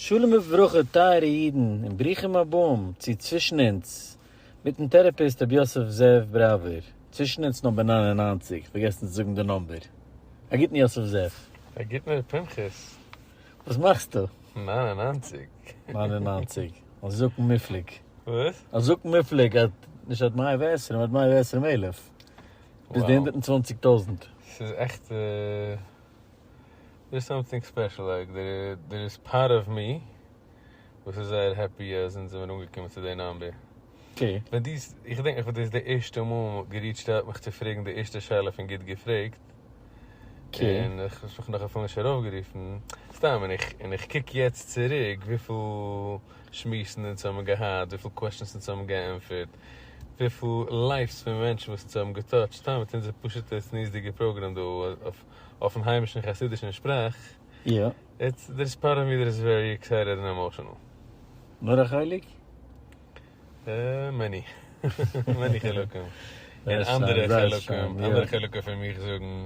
שלום וברכה טייערע אידן און ברוכים הבאים צו צווישן אונז מיטן טערעפיסט רבי יוסף זאב בראווער, צווישן אונז נאמבער נײַן און נײַנציק, פארגעסן צו זאגן די נאמבער, א גוטן יוסף זאב. א גוטן ר' פנחס. וואס מאכסטו? נײַן און נײַנציק. נײַן און נײַנציק, א זקן מופלג. וואס? א זקן מופלג, א, נישט עד מאה ועשרים, עד מאה ועשרים אלף. ביז די הונדערט און צוואנציג טויזנט. ס'איז עכט. דער איז סאמטינג ספעשל, לייק דער איז פארט אוו מי, וואס איז זייער העפי אז אונז זעמיר אנגעקומען צו די נאמבער. ווען דו, איך געדענק נאך ווען דו האסט די ערשטע מאל געריטשט אוט מיך צו פרעגן די ערשטע שאלה פון גוט געפרעגט, און איך האסט מיך נאך אפילו נישט ארויפגערופן, סתם, און איך קוק יעצט צוריק וויפיל שמועסן אונז האבן געהאט, וויפיל קוועשאנס אונז האבן געענטפערט, וויפיל לייפס פון מענטשן וואס אונז האבן געטאטשט סתם מיט אונזער פשוטע צניעות'דיגע פראגראם דא אויפן היימישן חסידישן שפראך, איטס דער איז פארט אוו מי דער איז ווערי עקסייטעד און עמאשענעל. נאר א חלק? מעני מעני חלקים, און אנדערע חלקים אנדערע חלקים פון מיך זאגן.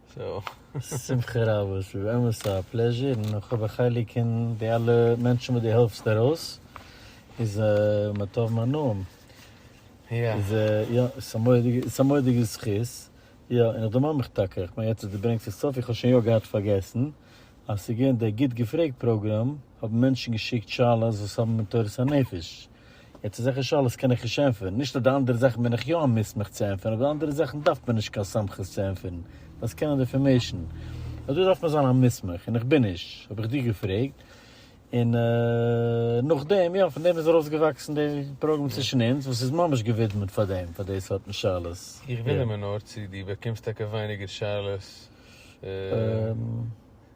שמחה רבה, ס'איז באמת א פלעזשער, און איך האב א חלק אין די אלע מענטשן וואס דו העלפסט ארויס, איז מה טוב מה נעים, איז יא, ס'איז א מודיגע זכות, יא, און איך דערמאן מיך טאקע, כ'מיין יעצט אז דו ברענגסט עס אויף, איך האב שוין יא געהאט פארגעסן, אז ס'איז געווען די גוט געפרעגט פראגראם, האבן מענטשן געשיקט שאלות וואס האבן מיט תורת הנפש, יעצט אזעלכע שאלות קען איך נישט ענטפערן, נישט אז די אנדערע זאכן בין איך יא א מוסמך צו ענטפערן, אבער די אנדערע זאכן דארף מען נישט קיין סמכות צו ענטפערן, דארפסט קענען די אינפארמעישן, אבער דא דארף מען זיין א מוסמך, און איך בין נישט, האב איך דיר געפרעגט, און נאכדעם, יא, פון דעם איז ארויסגעוואקסן די פראגראם צווישן אונז, וואס איז ממש געווידמעט פאר דעם, פאר די סארטן שאלות. איך וואונדער מיר נאר צו דו באקומסט טאקע ווייניגער שאלות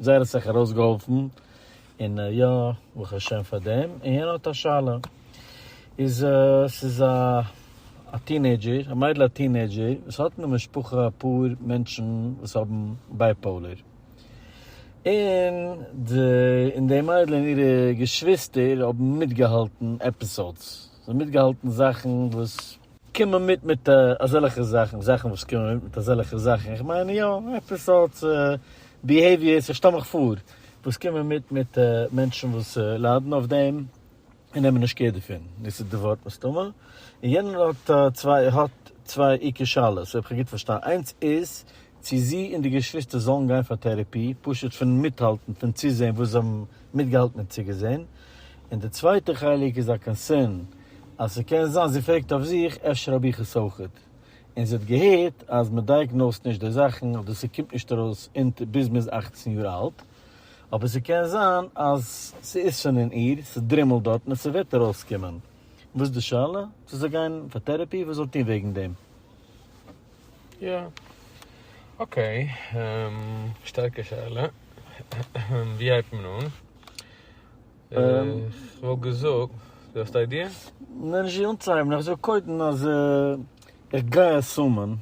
זייער האט אסאך ארויסגעהאלפן, און יא, ברוך השם פאר דעם, און יענער האט א שאלה, איז ס'איז א א טינעידזשער, א מיידל א טינעידזשער, וואס האט אין די משפחה אפאר מענטשן וואס האבן בייפאולער, און די און די מיידל און אירע געשוויסטער האבן מיטגעהאלטן עפיסאודס, זיי האבן מיטגעהאלטן זאכן וואס. קומען מיט מיט אזעלכע זאכן, זאכן וואס קומען מיט מיט אזעלכע זאכן, איך מיין יא, עפעס סארט ביהעיוויערס, איך שטעל מיך פאר, וואס קומען מיט מיט מענטשן וואס ליידן אויף דעם, און נעמען נישט קעיר דערפון, דאס איז די ווארט מסתמא, און יענער האט צוויי האט צוויי עיקר שאלות, אויב איך האב גוט פארשטאנען, איינס איז צו זי און די געשוויסטער זאלן גיין פאר טערעפי, פשוט פון מיטהאלטן פון צוזעהן וואס זיי האבן מיטגעהאלטן און צוגעזעהן, און די צווייטע חלק איז א קאנסערן אז ס'קען זיין, זי פרעגט אויף זיך, אפשר האב איך עס אויכעט, און זי האט געהערט אז מען דייעגנאוזט נישט די זאכן אדער ס'קומט נישט ארויס אונטער ביז מ'איז אַכצן יאר אלט, אבער ס'קען זיין אז ס'איז שוין אין איר, ס'דרימלט דארטן און ס'וועט ארויסקומען, וואס די שאלה? זאל זי גיין פאר טערעפי? וואס זאל טון וועגן דעם? יא. אקעי. שטארקע שאלה. ווי הייבט מען אן? כ'וואלט געזאגט, דו האסט איידיע? נעה, נישט ווי אנצוהייבן. איך זאג קודם אז איך גיי עסומען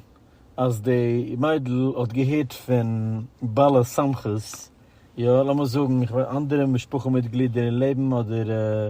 אז די מיידל האט געהערט פון בעל הסמכות, יא, לאמיר זאגן אנדערע משפחה מיטגלידער אין לעבן אדער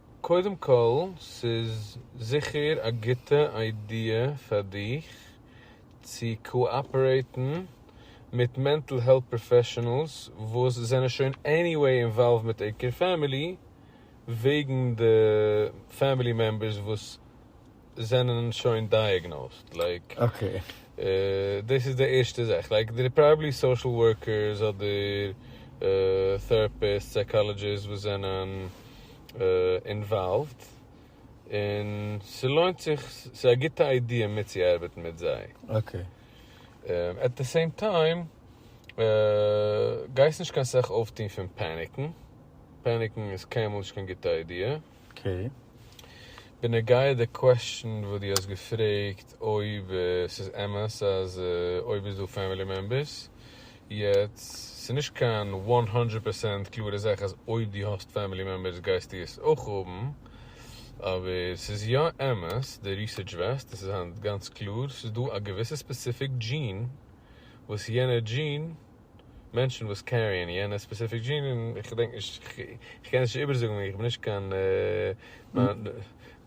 קודם כל, ס'איז זיכער א גוטע איידיע פאר דיך צו קאאפערעיטן מיט מענטל העלט פראפעשענעלס וואס זענען שוין עניוועי אינוואלווד מיט עיקר פעמילי וועגן די פעמילי מעמבערס וואס זענען שוין דייעגנאוזד לייק דאס איז די ערשטע זאך לייק דער פראבעלי סאשעל ווארקערס אדער טעראפיסט סייקאלעדזשיסט וואס זענען אינוואלווד און ס'לוינט זיך ס'איז א גוטע איידיע מיטצוארבעטן מיט זיי עט די סעים טיים גייסט נישט קיין סאך אויפטון פון פעניקן פעניקן איז קיינמאל נישט קיין גוטע איידיע. אקעי. בנוגע די קוועסטשן וואס דו האסט געפרעגט אויב ס'איז אמת אז אויב איז דא פעמילי מעמבערס, יעצט ס'איז נישט קיין וואן הונדרעט פערסענט קלארע זאך אז אויב דו האסט פעמילי מעמבערס גייסטו עס אויך האבן, אבער ס'איז יא אמת, די ריסערטש ווייזט, עס איז היינט גאנץ קלאר, ס'איז דא א געוויסע ספעסיפיק דזשין וואס יענער דזשין, מענטשן וואס קעריען יענע ספעסיפיק דזשין, און איך געדענק נישט, איך קען עס נישט איבערזאגן איך בין נישט קיין, מיין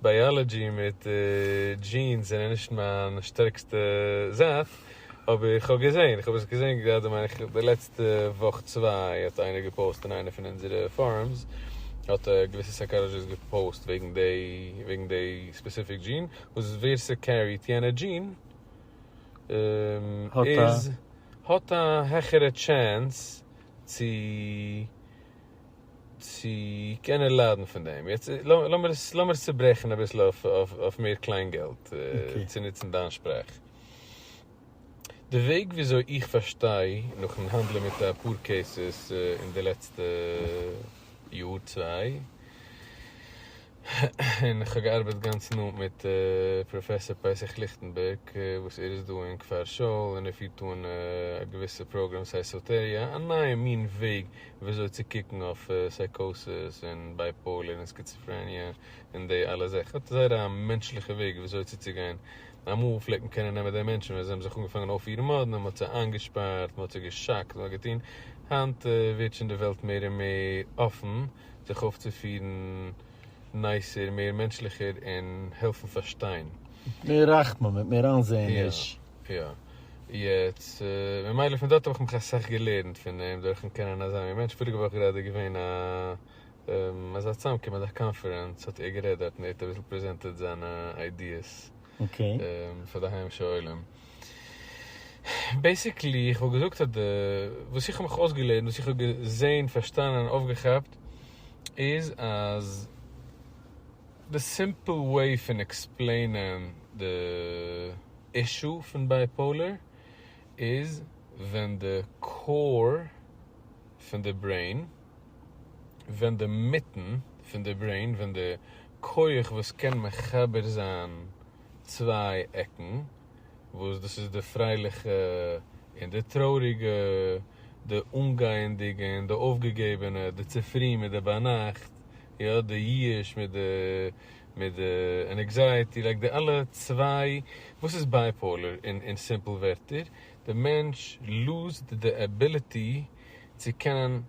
בייאלאדזשי מיט דזשינס זענען נישט מיין שטערקסטע זייט, אבער איך האב געזען, איך האב עס געזען גראדע מיין איך די לעצטע וואך צוויי האט איינער געפאוסט אין איינע פון אונזערע פארומס, האט א געוויסע סייקאלאדזשיסט געפאוסט וועגן דעי ספעסיפיק דזשין, וואס ווער ס'קעריט יענע דזשין, איז האט א העכערע טשענס צו צו קענען ליידן פון דעם. יעצט לאמיר עס לאמיר עס צוברעכן אביסל אויף מער קליין געלט צו נוצן דיין שפראך. די וועג וויאזוי איך פארשטיי נאכן האנדלען מיט אפאר קעיסעס אין די לעצטע יאר צוויי, און כ'האב געארבעט גאנץ נאנט מיט פראפעסאר פסח ליכטענבערג וואס ער איז דא אין כפר שאול און ער פירט אן א געוויסע פראגראם סייסאטעריא א נייע מין וועג וויאזוי צו קוקן אויף סייקאסיס און בייפאולער און סקיצעפרעניע און די אלע זאכן ער האט זייער א מענטשליכע וועג וויאזוי צו צוגיין אמאל פלעגט מען קענען נעמען די מענטשן ווען זיי האבן זיך אנגעפאנגען אויפירן מאדנע מ'האט זיי איינגעשפארט מ'האט זיי געשאקט און אזוי געטון היינט ווערט שוין די וועלט מער און מער אפן. זיך אויפצופירן נייסער, מער מענטשליכער און העלפן פארשטיין. מיט מער רחמים, מיט מער איינזעעניש. יא, יא. יעצט, ממילא פון דארט האב איך מיך אסאך געלערנט פון אים, דורכ'ן קענען אזא מין מענטש. פאריגע וואך גראדע איז געווען א אזא צוזאמקום, אזא קאנפערענץ, האט ער גערעדט דארט און ער האט אביסל פרעזענטעד זיינע איידיעס. פאר די היימישע עולם. בעיסיקלי איך וואלט געזאגט אז די וואס איך האב מיך אויסגעלערנט וואס איך האב געזעהן פארשטאנען אויפגעכאפט איז אז די סימפל וועי פון עקספלעינען די אישו פון בייפאולער איז ווען די קאור פון די ברעין ווען די מיטן פון די ברעין, ווען די כח וואס קען מחבר זיין צוויי עקן, וואס דאס איז די פרייליכע און די טרויעריגע, די אנגייענדיגע און די אויפגעגעבענע, די צופרי מיט די ביינאכט, יא, די ייאוש מיט די מיט די ענעקזייעטי, לייק די אלע צוויי, וואס איז בייפאולער אין סימפל ווערטער? די מענטש לוזד די עביליטי צו קענען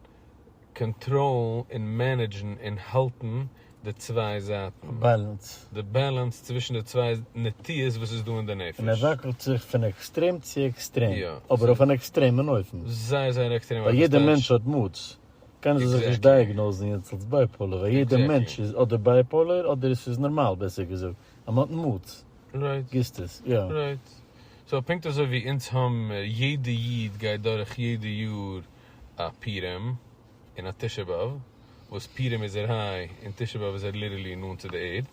קאנטראלן און מענעדזשן און האלטן די צוויי זייטן. באלאנס. די באלאנס צווישן די צוויי נטיות וואס איז דא אין די נפש. און ער וואקלט זיך פון עקסטרעם צו עקסטרעם, אבער אויף אן עקסטרעמען אופן. זייער זייער עקסטרעם אויף. ווייל יעדער מענטש האט מאדס. קענען זיי זיך נישט דייעגנאוזן יעצט אלס בייפאולער, ווייל יעדער מענטש איז אדער בייפאולער אדער עס איז נארמאל, בעסער געזאגט. אז מען האט אין מוט, גיסט עס, יא. רייט. סאו פונקט אזוי ווי אונז האבן, יעדע איד גייט דורך יעדע יאר א פורים און א תשעה באב, וואס פורים איז ער היי און תשעה באב איז ער ליטערלי נאנט צו די ערד,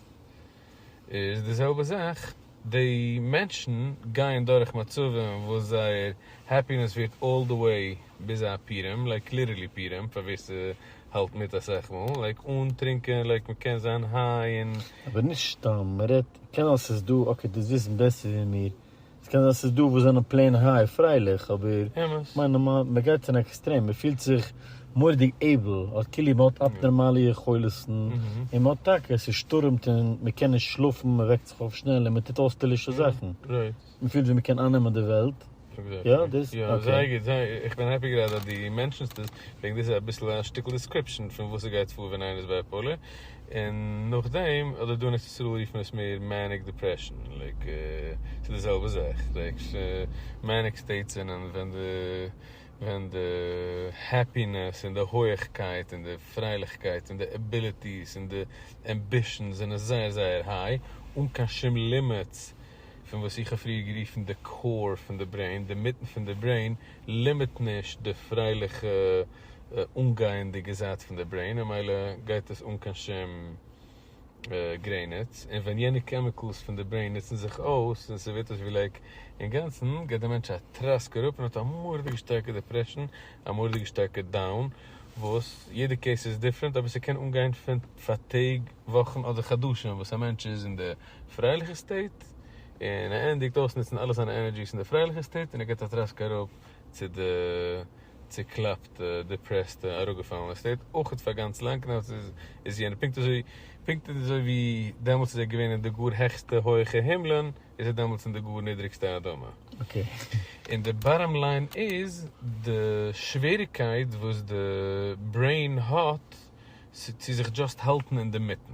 איז די זעלבע זאך, די מענטשן גייען דורך מצבים וואס זייער העפינעס ווערט אלל די וועי ביז א פורים, לייק ליטערלי פורים, פאר ווער האלט מיט א סך מאל, לייק אן טרינקען, לייק מען קען זיין היי און. אבער נישט סתם, מען רעדט, קען זיין ס'איז דא, אקעי דו וועסט וויסן בעסער ווי מיר, ס'קען זיין ס'איז דא וואס זענען פלעין היי, פרייליך, אבער אמת. כ'מיין נארמאל, מען גייט אין עקסטרעם, מען פילט זיך מורא'דיג עיבל, האט כאילו מען האט אבנארמאלע יכולת'ן, און מען האט טאקע, ס'שטורעמט און מען קען נישט שלאפן, מען וועקט זיך אויף שנעל און מען טוט אויסטערלישע זאכן. מען פילט ווי מען קען אייננעמען די וועלט. יא דאס יא זייער גוט זייער איך בין העפי גראדע אז די מענטשענסט עס וועגן דאס איז אביסל א שטיקל דיסקריפשען פון וואס ס'גייט פאר ווען איינער איז בייפאלער און נאכדעם אדער דא אין ארץ ישראל רופט מען עס מער מעניק דיפרעשען לייק ס'איז די זעלבע זאך לייק מעניק סטעיטס זענען ווען די ווען די העפינעס און די הויעכקייט און די פרייליכקייט און די עביליטיס און די עמבישענס זענען זייער זייער היי אן קיין שום לימיטס. פון וואס איך האב פריער גערופן די קאור פון די ברעין, די מיטן פון די ברעין, לימיט נישט די פרייליכע אנגייענדיגע זייט פון די ברעין, און מילא גייט עס אן קיין שום גרעניץ, און ווען יענע קעמיקעלס פון די ברעין נוצן זיך אויס און ס'ווערט אויס ווי לייק אינגאנצן, גייט די מענטש א טראסק אראפ און האט א מורא'דיגע שטארקע דעפרעשן, א מורא'דיגע שטארקע דאון, וואס יעדע קעיס איז דיפרענט אבער ס'קען אנגיין פון פאר טעג, וואכן אדער חדשים וואס א מענטש איז אין די. פרייליכע סטעיט, און ער ענדיגט אויסנוצן אלע זיינע ענערדזשיס אין די פרייליכע סטעיט און ער געט א טראסק אראפ צו די צוקלאפטע, דיפרעסטע, אראפגעפאלענע סטעיט, אויך פאר גאנץ לאנג נאך דעם איז יענער פונקט אזוי פונקט אזוי ווי דעמאלטס איז ער געווען אין די גאר העכסטע הויעכע הימלען איז ער דעמאלטס אין די גאר נידריגסטע אדמה. און די באטאם ליין איז די שוועריגקייט וואס די ברעין האט צו זיך דזשאסט האלטן אינדערמיטן.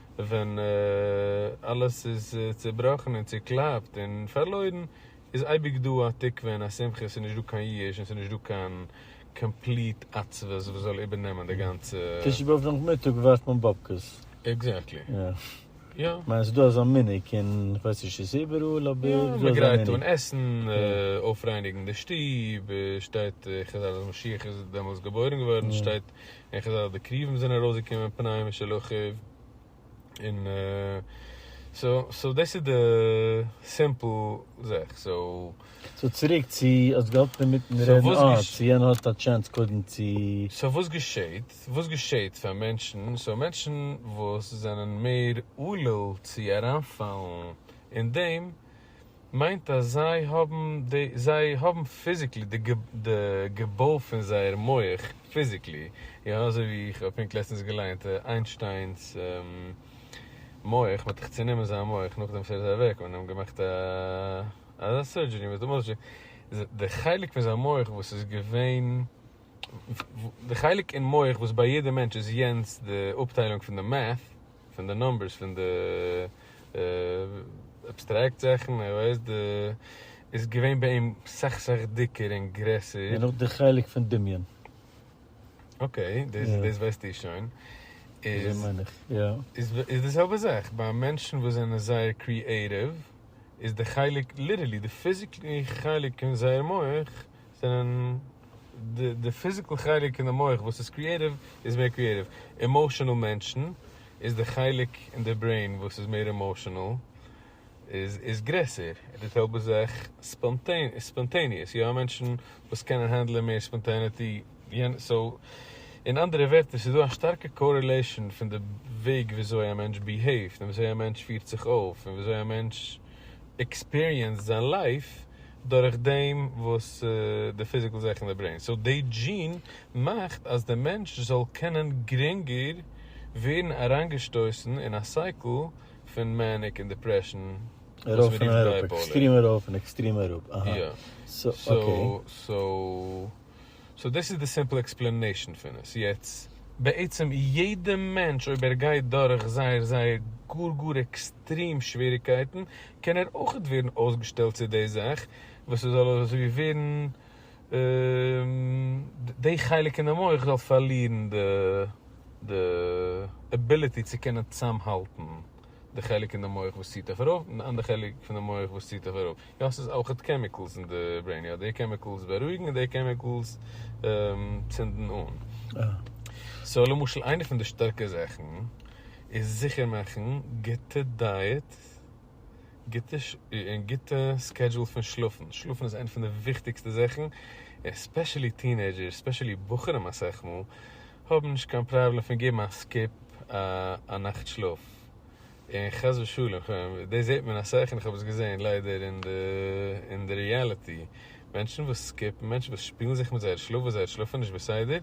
ווען אלעס איז צובראכן און צוקלאפט און פארלוירן איז אייביג דא א תקווה און א שמחה, ס'איז נישט דא קיין ייאוש און ס'איז נישט דא קיין קאמפליט עצבות וואס זאל איבערנעמען די גאנצע. תשעה באב נאכמיטאג ווארפט מען באבקעס. עקזעקטלי. יא. כ'מיין ס'איז דא אזא מנהג אין כ'ווייס נישט צו ס'איז איבעראל אבער ס'איז דא אזא מנהג. יא, מ'גרייט אן עסן, אויפרייניגן די שטוב, שטייט חז ל אז משיח איז דעמאלס געבוירן געווארן, שטייט. און כ'זע אז די קרובים זענען ארויסגעקומען פנאי משל אחיו, און סאו סאו דאס איז די סימפל זאך, סאו. סאו צוריק צו האסט געהאלטן אינמיטן רעדן אה צו יענער האט א טשענס קודם צו. סאו וואס געשעהט? וואס געשעהט פאר מענטשן? סאו מענטשן וואס זענען מער עלול צו אריינפאלן אין דעם מיינט אז זיי האבן די, זיי האבן פיזיקלי די די געבוי פון זייער מח פיזיקלי, יא אזוי ווי איך האב פונקט לעצטענס געליינט איינשטיינס מח, מ'האט דאך צונומען זיין מח נאכדעם וואס ער איז אוועק, און אים געמאכט א אזא סורדזשערי, מ'האט דערמאנט די חלק פון זיין מח וואס איז געווען, די חלק אין מח וואס ביי יעדע מענטש איז יענץ די אפטיילונג פון די מעט, פון די נומבערס פון די אבסטרעקט זאכן ער ווייסט די איז געווען ביי אים סאך סאך דיקער און גרעסער. און אויך די חלק פון דמיון. אקעי, דאס דאס ווייסטו שוין. אזוי מיין איך, יא. איז איז די זעלבע זאך ביי מענטשן וואס זענען זייער קריעטיוו איז די חלק ליטערלי די פיזיקלי חלק אין זייער מח זענען די די פיזיקעל חלק אין די מח וואס איז קריעטיוו איז מער קריעטיוו, עמאשענעל מענטשן איז די חלק אין די ברעין וואס איז מער עמאשענעל איז איז גרעסער, די זעלבע זאך ספאנטעניעס, יא מענטשן וואס קענען הענדלען מער ספאנטעניטי, סאו אין אנדערע ווערטער ס'איז דא א שטארקע קארעלעישאן פון די וועג וויאזוי א מענטש ביהעיווט און וויאזוי א מענטש פירט זיך אויף און וויאזוי א מענטש עקספיריענסד זיין לייף דורך דעם וואס די פיזיקל זאך אין די ברעין, סאו די דזשין מאכט אז די מענטש זאל קענען גרינגער ווערן אריינגעשטויסן אין א סייקל פון מעניק און דעפרעשן וואס מ'רופט בייפאולער. עקסטרים ארויף און עקסטרים אראפ, עקסטרים אראפ, אהא, סאו אקעי. סאו דאס איז די סימפל עקספלענעישן פון עס, יעצט בעצם יעדע מענטש אויב ער גייט דורך זייער זייער גאר גאר עקסטרים שוועריקייטן קען ער אויכעט ווערן אויסגעשטעלט צו די זאך וואס עס זאל אזוי ווי ווערן די חלק אין די מח זאל פארלירן די עביליטי צו קענען צוזאמהאלטן. די חלק אין די מח וואס ציט דיך ארויף און די אנדערע חלק פון די מח וואס ציט דיך אראפ, יא ס'איז אויך די קעמיקעלס אין די ברעין, יא די קעמיקעלס בארואיגן און די קעמיקעלס צינדן אן, סאו למשל איינע פון די שטארקע זאכן איז זיכער מאכן גוטע דייעט און גוטע סקעדזשול פון שלאפן, שלאפן איז איינע פון די וויכטיגסטע זאכן, עספעשעלי טינעידזשערס, עספעשעלי בחורים אסאך מאל, האב נישט קיין פראבלעם פון געבן א סקיפ א נאכט שלאף, און חס ושלום, כ'מיין דאס זעט מען אסאך און כ'האב עס געזען ליידער אין די אין די ריעליטי, מענטשן וואס סקיפן, מענטשן וואס שפילן זיך מיט זייער שלאף וואס זייער שלאף איז נישט בסדר,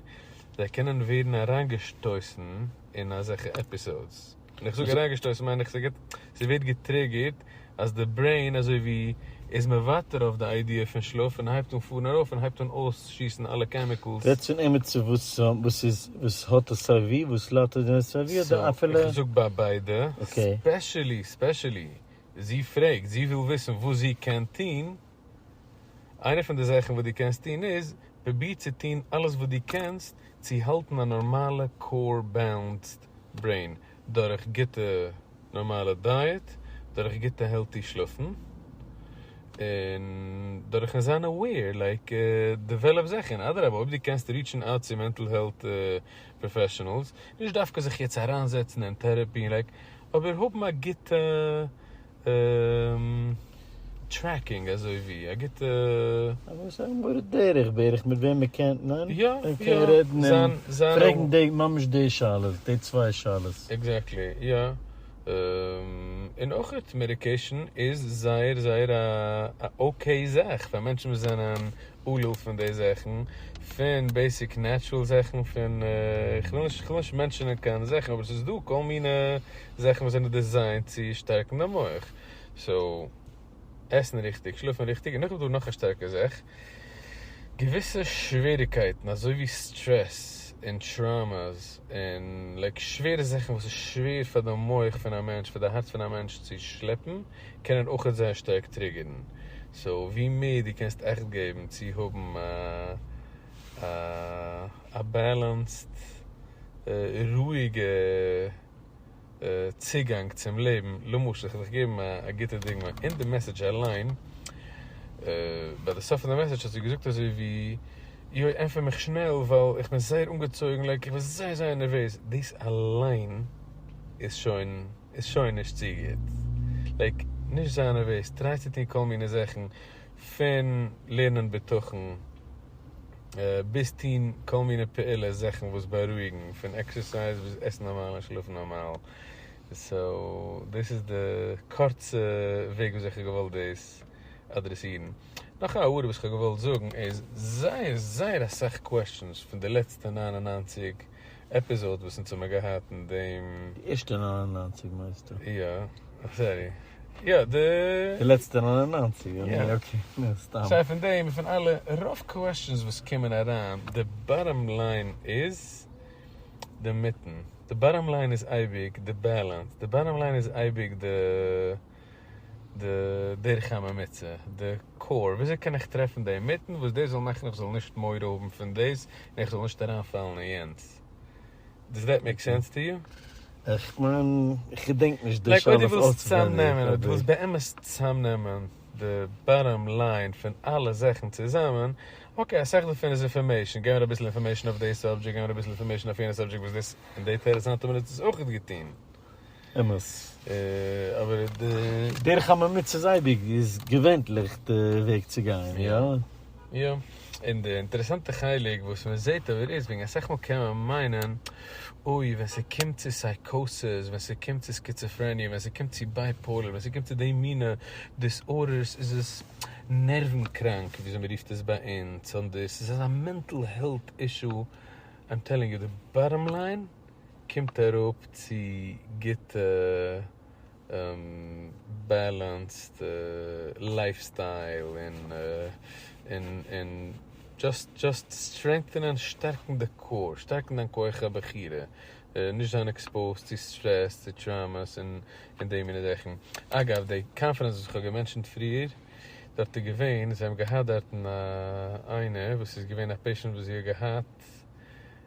זיי קענען ווערן אריינגעשטויסן אין אזעלכע עפיסאודס. ווען איך זאג אריינגעשטויסן מיין איך ס'געט ס'ווערט געטריגערט אז די ברעין אזוי ווי איז מוותר אויף די איידיע פון שלאף און הייבט אן פארן ארויף און הייבט אן אויסשיסן אלע קעמיקלס. רעדסט פון עמיצער וואס וואס איז וואס האט עס סיי ווי וואס ליידט אויף דעם עס סיי ווי אדער אפילו. איך זאג ביי ביידע, ספעשעלי ספעשעלי זי פרעגט זי וויל וויסן וואס זי קען טון. איינע פון די זאכן וואס דו קענסט טון איז, פרוביר צו טון אלעס וואס דו קענסט צו האלטן א נארמאלע קאר בעלענסד ברעין, דורך גוטע נארמאלע דייעט, דורך גוטע העלטי שלאפן, און דורכ'ן זיין אוועיר, לייק דעוועלאפ זיך, און אדרבה אויב דו קענסט ריטשן אוט צו מענטל העלט פראפעשענעלס, נישט דווקא זיך יעצט אריינזעצן אין טערעפי, לייק אבער האבן א גוטע טרעקינג אזוי ווי א גוטע. אזוי סך הכל מורה דרך בערך מיט וועם מען קענט נען יא יא און קען רעדן און פרעגן די ממש די שאלות די צוויי שאלות. עקזעקטלי יא און אויך מעדיקעישן איז זייער זייער א אקעי זאך פאר מענטשן וואס זענען. אלא פון די זאכן, פון בעיסיק נעטשרעל זאכן, פון, כ'וויל נישט, כ'וויל נישט מענטשענען קיין זאכן, אבער ס'איז דא כל מיני זאכן וואס זענען דיזיינט צו שטארקן די מח. סאו, עסן ריכטיג, שלאפן ריכטיג, און נאך איז דא נאך א שטארקע זאך, געוויסע שוועריקייטן אזוי ווי סטרעס און טראומעס און לייק שווערע זאכן וואס איז שווער פאר די מח פון א מענטש, פאר די הארץ פון א מענטש צו שלעפן, קענען אויכעט זייער שטארק טריגערן, סאו ווי מער דו קענסט אכט געבן צו האבן א בעלענסד רואיגע צוגאנג צום לעבן, למשל כ'וועל דיך געבן א גוטע דוגמא, אין די מעסעדזש אליין, ביי די סוף פון די מעסעדזש האסטו געזאגט אזוי ווי, יוי ענטפער מיך שנעל ווייל איך בין זייער אנגעצויגן לייק איך בין זייער זייער נערוועז, דאס אליין איז שוין. איז שוין נישט צו גוט. לייג נישט זיין נערוועז, טריי צו טון כל מיני זאכן, פון לערנען בטחון ביז טון כל מיני פעולות זאכן וואס בארואיגן, פון עקסערסייז ביז עסן נארמאל און שלאפן נארמאל, סאו דאס איז די קורצע וועג וויאזוי איך האב געוואלט דאס אדרעסירן. נאך א הערה וואס איך האב געוואלט זאגן איז זייער זייער אסאך קוועסטשענס פון די לעצטע נײַן און נײַנציק עפיזאד וואס אונז האמער געהאט אין דעם. די ערשטע נײַן און נײַנציק מיינסטו? יא, סארי, יא די. די לעצטע נײַן און נײַנציק, יא ניין אקעי, ניין סתם. סיי פון דעם און פון אלע רוב קוועסטשענס וואס קומען אריין, די באטאם ליין איז די מיטן, די באטאם ליין איז אייביג די בעלענס, די באטאם ליין איז אייביג די. די דרכי הממוצע, די קאור, וויאזוי קען איך טרעפן דעם מיטן וואס דער זאל מאכן איך זאל נישט מורא האבן פון דאס און איך זאל נישט אריינפאלן אין יענץ? דאס דעט מעיק סענס טו יו? איך מיין, איך געדענק נישט די שאלה אויף אויסווענדיג, אבער. לייק אויב דו ווילסט צוזאמנעמען, אויב דו ווילסט באמת צוזאמנעמען די באטאם ליין פון אלע זאכן צוזאמען, אקעי, אסאך דערפון איז אינפארמעישן, געב מיר אביסל אינפארמעישן אויף דעי סאבדזשעקט, געב מיר אביסל אינפארמעישן אויף יענע סאבדזשעקט וואס דאס און דעי טערעסאנטע מינוט איז אויך געטון. אמת. אבער די דרך הממוצע זיידיג איז געווענטליך די וועג צו גיין, איא? איא. און די אינטערעסאנטע חלק וואס מען זעט אבער איז וועגן אסאך מאל קען מען מיינען אוי ווען ס'קומט צו סייקאסיס, ווען ס'קומט צו סקיצעפרעניע, ווען ס'קומט צו בייפאולער, ווען ס'קומט צו די מינע דיסארדערס איז עס נערוון קראנק וויאזוי מען רופט עס ביי אונז, ס'איז אזא מענטל העלט אישו, איים טעלינג יו די באטאם ליין. קומט אראפ צו גוטע בעלענסד לייף סטייל און דזשאסט סטרענגטענען, שטארקן די קאור, שטארקן דיין כח הבחירה, נישט זיין עקספאוזד צו סטרעס, צו טראומעס און די מיני זאכן. אגב, די קאנפרענס וואס איך האב געמענטשענט פריער, דארט איז געווען, זיי האבן געהאט דארטן א איינער וואס איז געווען א פעישענט וואס זי האט געהאט,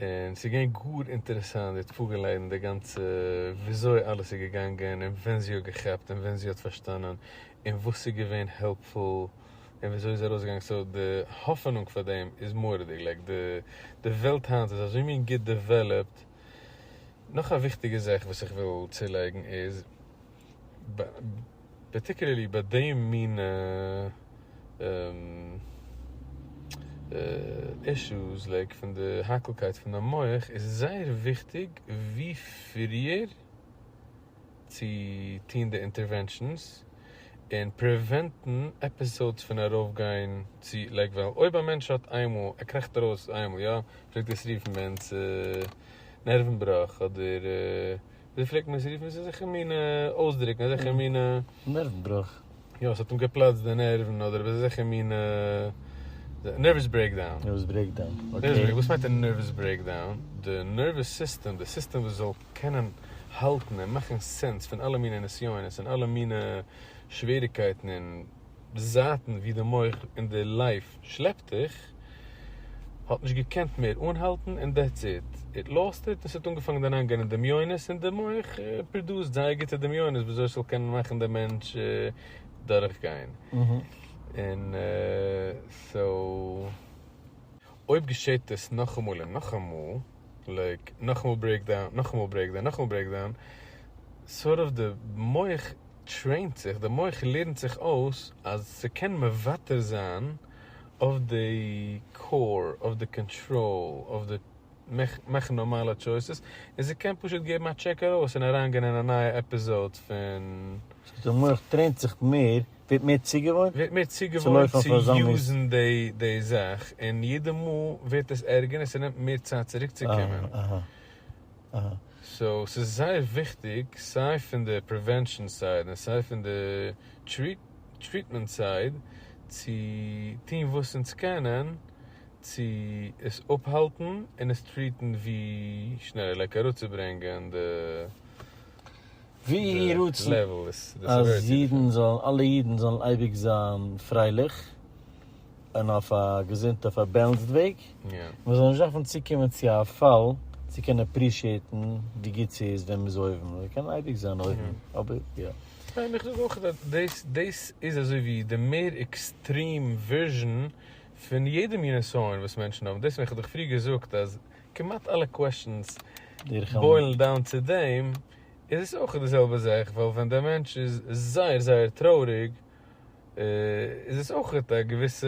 און ס'איז געווען גאר אינטערעסאנט זי האט פארגעליידן די גאנצע וויאזוי אלעס איז געגאנגען און ווען זי האט געכאפט און ווען זי האט פארשטאנען און וואס איז געווען העלפפול און וויאזוי איז ארויסגעגאנגען סאו די האפענונג פאר דעם איז מורא'דיג לייק די די וועלט היינט איז אזוי מין גוט דעוועלאפט. נאך א וויכטיגע זאך וואס איך וויל צולייגן איז. פארטיקולערלי ביי דעם מין אישוס לייק פון די האקלקייט פון די מח איז עס זייער וויכטיג ווי פריער צו טון די אינטערווענשאנס און פריווענטן עפיסאודס פון ארויף גיין צו לייק ווייל אויב א מענטש האט איינמאל ער קראכט ארויס איינמאל יא פלעגט עס רופן ביי אונז נערוון בראך אדער ווי פלעגט מען עס רופן? עס איז אזעלכע מינע אויסדרוקן, אזעלכע מינע. נערוון בראך. יא, עס האט אים געפלאצט די נערוון אדער וואס אזעלכע מינע נערוועס ברעיקדאון. נערוועס ברעיקדאון, אקעי. וואס מיינט א נערוועס ברעיקדאון? די נערוועס סיסטעם, די סיסטעם וואס זאל קענען האלטן און מאכן סענס פון אלע מינע נסיונות און אלע מינע שוועריגקייטן און. די זייטן ווי די מח און די לייף שלעפט דיך, האט נישט געקענט מער אנהאלטן און דעטס איט, איט לאסט איט, און ס'האט אנגעפאנגען אריינגיין אין דמיונות און די מח פראדוסט זייער גוטע דמיונות ווי אזוי ס'זאל קענען מאכן די מענטש דורכגיין, און סאו. אויב געשעט עס נאכאמאל און נאכאמאל, לייק נאכאמאל ברעיקדאון, נאכאמאל ברעיקדאון, נאכאמאל ברעיקדאון, סארט אוו די מח. טרעינט זיך, די מח לערנט זיך אויס אז ס'קען מוותר זיין אויף די קאור, אויף די קאנטראל, אויף די מאכן נארמאלע טשויסעס, און ס'קען פשוט געבן א טשעק ארויס און אריינגיין אין א נייע עפיזאוד פון. ס'הייסט די מח טרעינט זיך מער, ווערט מער צוגעוואוינט? ווערט מער צוגעוואוינט צו יוזן די זאך, און יעדע מאל ווערט עס ערגער און ס'נעמט מער צייט צוריקצוקומען. סאו ס'איז זייער וויכטיג סיי פון די פריווענשאן סייד און סיי פון די טריטמענט סייד צו טון וואס אונז קענען צו עס אפהאלטן און עס טריעטן ווי שנעלער לייק אראפצוברענגען די ווי יהי רצון אז אידן זאלן אלע אידן זאלן אייביג זיין פרייליך. און אויף א געזונטע פארבעלנסד וועג, מען זאל נישט דארפן צוקומען צו א פאל צו קענען אפרישיעטן ווי גוט ס'איז ווען מ'איז אויבן, מען קען אייביג זיין אויבן, אבער יא. ניין איך זאג אויך אז דאס דאס איז אזוי ווי די מער עקסטרים ווערזשען פון יעדע מין נסיון וואס מענטשן האבן, דאס ווען איך האב דיך פריער געזאגט אז כמעט אלע קוועשאנס בוילן דאון צו דעם, איז עס אויך די זעלבע זאך, ווייל ווען דער מענטש איז זייער זייער טרויעריג איז עס אויך האט א געוויסע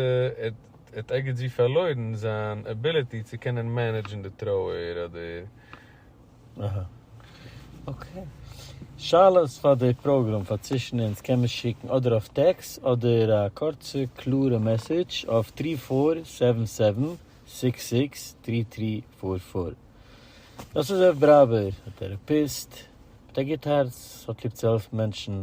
האט ערגעץ ווי פארלוירן זיין עביליטי צו קענען מענעדזשן די טרויער אדער. אהא אקעי. שאלות פאר די פראגראם פאר צווישן אונז קען מען שיקן אדער אויף טעקס אדער א קורצע קלארע מעסעדזש אויף טרי פאר סעווען סעווען סיקס סיקס טרי טרי פאר פאר. דאס איז זעף בראווער, א טעראפיסט מיט א גוט הארץ האט ליב צו העלפן מענטשן.